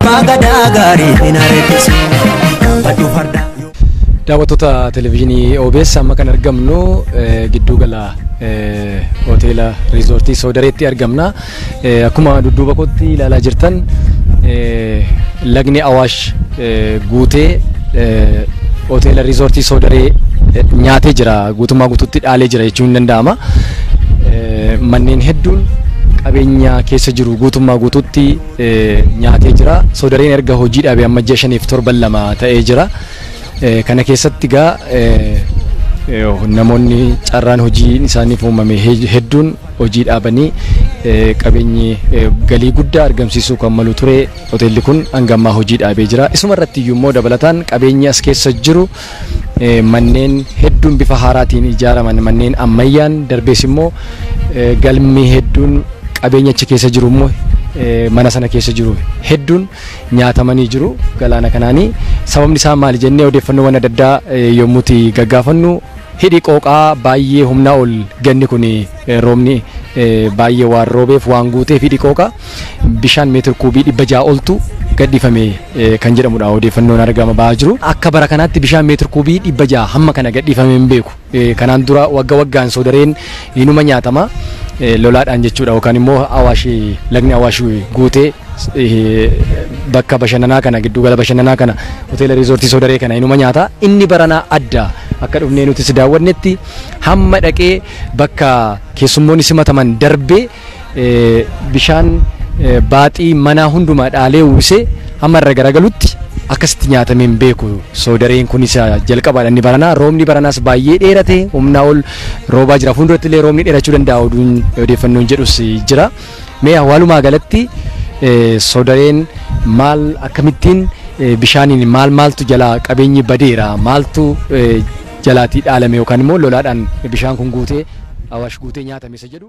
Abbaa gadaa gaarii hin areessisu. Gaafadhu fardaa. Daawwattoota televezyiinii OBS amma kan argamnu eh, gidduu gala eh, hoteela riizoortii Soodareetti argamna. Eh, Akkuma dudduuba kootti ilaalaa jirtan eh, lagni Awaash eh, guutee eh, hoteela riizoortii Soodaree eh, nyaatee jira guutummaa guutuutti dhaalee jira jechuun ni danda'ama. Eh, Manneen hedduun qabeenya keessa jiru guutummaa guutuutti nyaatee jira. Soodareen erga hojii dhaabee amma ji'a shaniif torban lama ta'ee jira. Kana keessatti egaa namoonni carraan hojii isaaniif uumame hedduun hojii dhaabanii qabeenyi galii guddaa argamsiisuu kan malu ture hoteelli kun hanga ammaa hojii dhaabee jira. Isuma irratti iyyuu immoo dabalataan qabeenyi as keessa jiru manneen hedduun bifa haaraatiin ijaaraman manneen ammayyaan darbees immoo galmi hedduun qabeenya achi keessa jiru immoo mana sana keessa jiru hedduun nyaatamanii jiru galaana kanaanii sababni isaa maali jennee odeeffannoowwan adda addaa yommuuti gaggaafannu hidhi qooqaa baay'ee humnaa ol ganni kun roobni baay'ee waan roobeef waan guuteef hidhi qooqaa bishaan meetir kuubii dhibba ja'a oltu gadhiifame kan jedhamudha odeeffannoon argama ba'aa jiru. Akka bara kanaatti bishaan meetir kuubii dhibba ja'a hamma kana gadhiifamee hin beeku. Kanaan dura wagga waggaan soodareen inuma nyaatama lolaadhaan jechuudha yookaan immoo awaash lagni awaash guutee bakka bashannanaa kana giddugala bashannanaa kana hoteela riizoortii soodaree kana inuma nyaata inni baranaa adda akka dhufnee nutis daawwannetti hamma dhaqee bakka keessummoonni simataman darbee bishaan baaxii manaa hundumaa dhaalee uwwisee hamma irra garagalutti akkasitti nyaatamee hin beeku soodareen kun isa jalqabaadha inni baranaa roobni baranaas baay'ee dheerate humnaa ol roobaa jira fuulduratti illee roobni dheerachuu danda'a oduun odeeffannoon jedhus jira mee awwaalumaa galatti soodareen maal akkamittiin bishaaniin maal maaltu jalaa qabeenyi badeera maaltu jalaatii dhaalame yookaan immoo lolaadhaan bishaan kun guutee awaash guutee nyaatame isa jedhu.